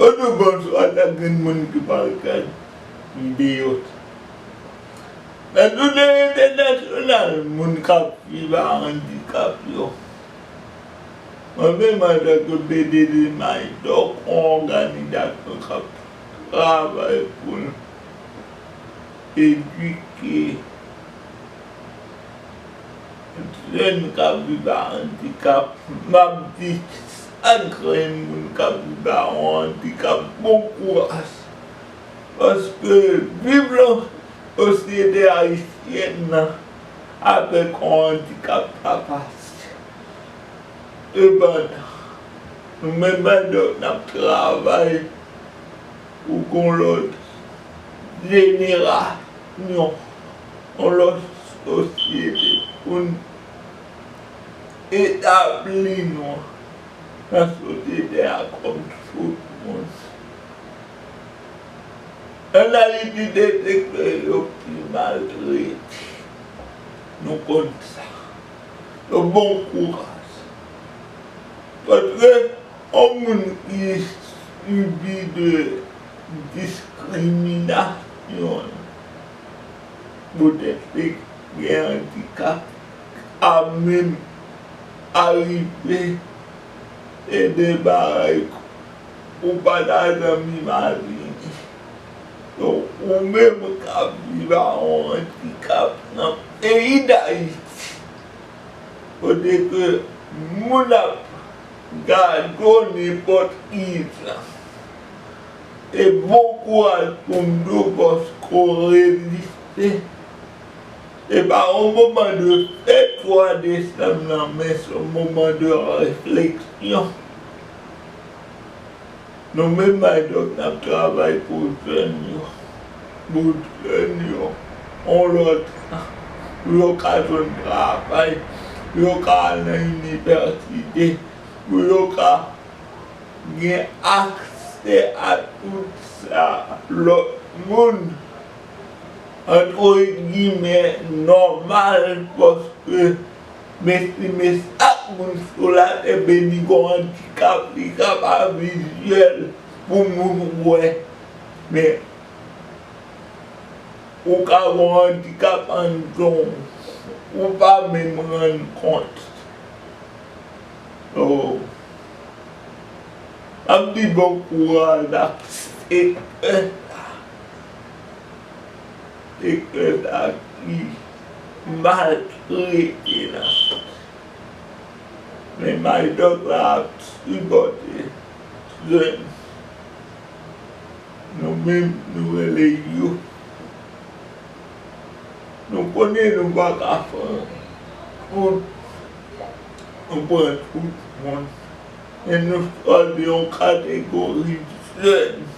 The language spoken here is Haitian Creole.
An nou bann sa ta grenn moun ki pral kad m deyot. Nan jounen entènasyonal moun k ap viv a andikap yo, mwen menm antanke BD Limay Dòk yon òganizasyon k ap travay pou l edike jèn k ap viv a andikap, m ap di. Ak grenn moun kap jou dawon an di kap bon kouras paske viv lan sosyete ayisyèn nan avèk yon andikap sa fasil sepandan nou menm adults nap travay pou gon lòt jenerasyon yon lòt sosyete poun Etabli nou nan sosyete a kòm sousmous analityte sektè yo pi maltrete. Nou konn sa. Yo bon kou ras. Paske yon moun ki sibi de diskriminasyon poutèt li gen andikap, a menm arive e de bagay ou pa ta janm imajine. Donk ou menm kap viv a yon andikap nan peyi Dayiti kote ke moun ap gade w nenpòt ki jan e bon kouraj pou Mdo paske w reziste. Epa yon moman de e 3 desanm nan men se yon moman de refleksyon. Nou menm Maydoc n ap travay pou jèn yo, pou jèn yo yon lòt jan pou yo ka jwenn travay, pou yo ka al nan inivèsite, pou yo ka gen aksè a tout sa lòt moun. antre gimè, nòmal paske mesi men chak moun sou latè beni gon andikap li ka pa vizyèl pou moun wè men ou ka gon andikap anndan w ou pa menm rann kont so map di bon kouraj ak sektè sa. E Eude a ri mal rete nan fòs. Men Maydòk la ap tripòte tren. Nou menm nou rele yo. Nou konnen nou pa ka fè anyen. Nou pran tout moun. Men nou chwazi yon kategori jèn.